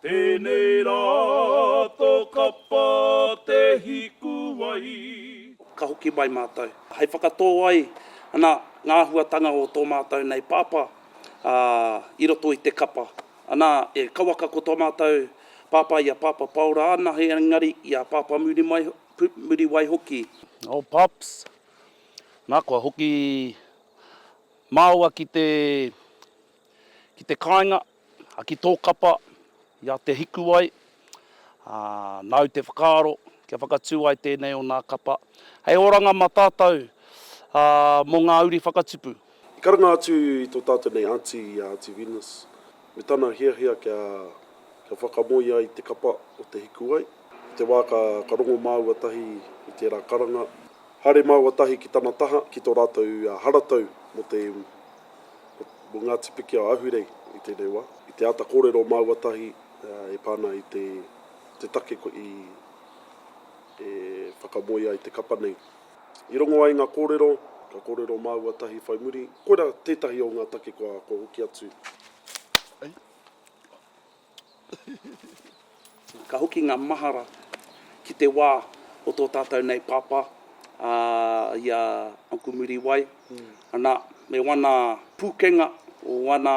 Tēnei rā tō kapa te hikuwai. Ka hoki mai mātou hei whakatō ai ana ngā āhuatanga o tō mātou nei pāpā i roto i te kapa. Ana, e kauaka ko tō mātou pāpā i a Pāpā Paora anahe engari i a Pāpā Muriwai hoki. Oh Pops. Nā, kua hoki māua ki te. Ki te kāinga, a ki tō kapa, i a Te Hikuwai, ā, nāu te whakaaro kia whakatū ai tēnei o nā kapa hei oranga mā tātou, ā, mō ngā uri whakatupu. I karanga atu i tō tātou nei Aunty, i a Aunty Venus, me tana hiahia kia, kia whakamoe ai te kapa o Te Hikuwai, i te wā ka, ka rongo māua tahi i tērā karanga, haere māua tahi ki tana taha, ki tō rātou haratau mō te iwi. Mō Ngāti Piki a Ahurei i tēnei wā. I te āta kōrero māua tahi e pā ana i te take e whakamoe ai te kapa nei. I rongo ai ngā kōrero, ka kōrero māua tahi whai muri, koirā tētahi o ngā take kua hoki atu. Ka hoki ngā mahara ki te wā o tō tātou nei pāpā, ā, i a Uncle Muriwai. Anā, me wana pūkenga, wana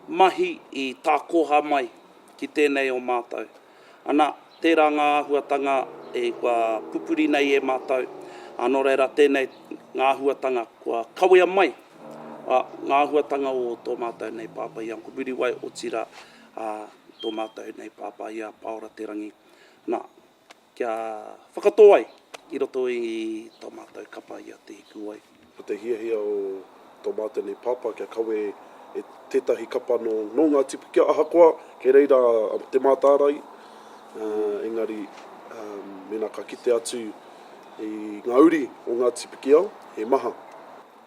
mahi i tākoha mai ki tēnei o mātou. Anā. Tērā ngā āhuatanga e kua pupuri nei e mātou, ā, nō reira tēnei ngā āhuatanga kua kawea mai, ā, ngā āhuatanga o tō mātou nei pāpā i a Uncle Muriwai, otirā, ā, tō mātou nei pāpā i a Pāora Te Rangi, nā, kia whakatō ai i roto i tō mātou kapa i a Te Hikuwai. Ko te hiahia o tō mātou nei pāpā kia kawe e tētahi kapa nō ngā tipikia ahakoa kei reira te mātārae, engari mēnā ka kite atu i ngā uri o ngā tipikia, he maha.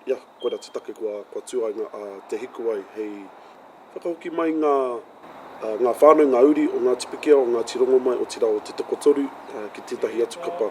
Ia, koirā te take kua tū ai a Te Hikuwai hei whakahoki mai ngā whānau, ngā uri o ngā tipikia o Ngāti Rongomai, otirā o Te Tokotoru ki tētahi atu kapa.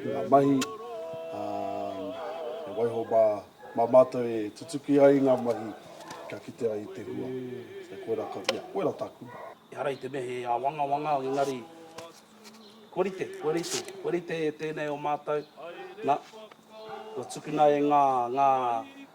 i ngā mahi, ā, he waiho mā, mā mātou e tutuki ai i ngā mahi kia kitea i te hua. Ā, koirā ka mea, koirā tāku. Ehara i te mea he āwangawanga, engari, kua rite, kua rite, kua rite tēnei o mātou, nā, kua tukuna e ngā, ngā.